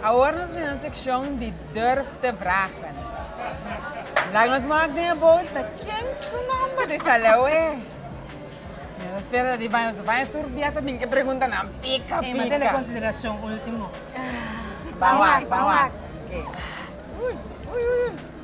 Awor nos tin un sekshon di Durf te vragen. Vandag nos maak den e bolta ken su nomber di Salewe. Nos a spera ta di baño su baño tur dia ta bin e preguntanan pika pika. Ey, ma tene konsiderashon ultimo. Ban wak, ban wak. Ui, ui, ui.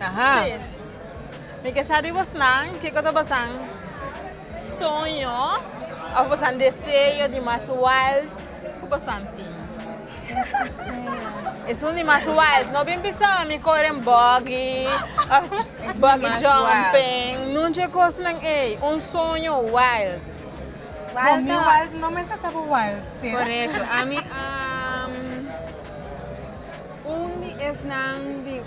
Aha. Sí. Mi ke sa di bosnan kiko ta bosan soño of bosan deseo di mas wild ku bosan tin. Esun di mas wild. No bin bisa mi koren buggy of buggy jumping. Nunche kosnan ey. Un soño wild. Bo mi wild no mester ta bo wild, sera? Korekto. Ami un di esnan di.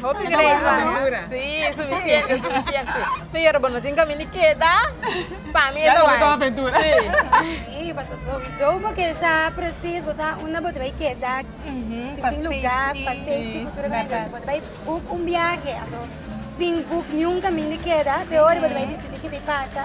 Hopi grein ta dura. Sí, sufisiente, sufisiente. Pero bo no tin caminda di keda, pa mi e ta wai. Sí, pasobra souizo bo ke sa precies bo sa unda bo ta bai keda, si tin lugar pa safety ku tur e cosa. Si bo ta bai book un biahe ato sin book niun caminda di keda, peor bo ta bai dicidi kiko ta pasa.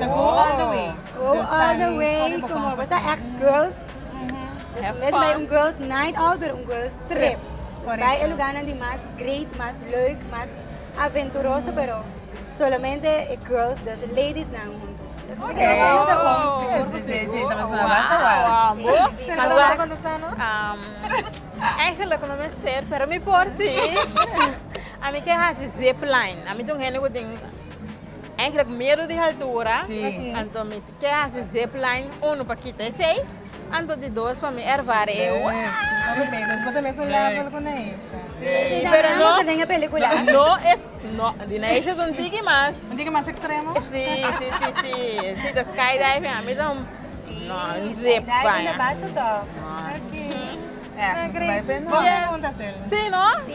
Go all the way. Go all the way como bo ta echt girls. Have fun. Bai un girls night out pero un girls trip. Correcto. Nos bai e lugarnan di mas great, mas leuk, mas aventuroso pero solamente e girls dus e ladiesnan huntu. Eigenlijk no mester pero mi por si. Ami ke hasi zipline. Ami ta un hende ku tin Eigenlijk miedo di haltura, anto mi ke hasi zipline uno pa kita esey, anto di dos pa mi ervare e si, pero no, no es, no, di Neisha es un tiki mas, si, si, si, si, si ta sky diving a mi ta un, no, un zip baña, no, yes, si no, si,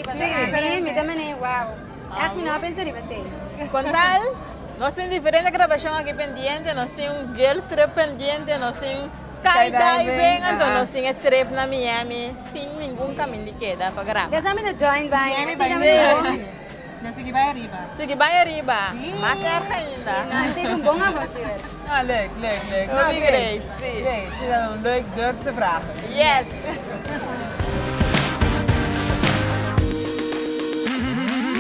mi ta mene wow. Echt mi no a pensa riba esey. Con tal, nos tin diferente grabacion aki pendiente, nos tin un girls trip pendiente, nos tin sky diving, anto nos tin e trip na Miami sin ningun camin di keda pa graba. Desa mi ta join baña, así ta mi ta bon. Nos sigui bay ariba. Sigui bay ariba, mas erg ainda. No, esey ta un bon avontuur. No, leuk, leuk, leuk. No, great. Great, sí. Great, sí ta un leuk durf te vragen. Yes.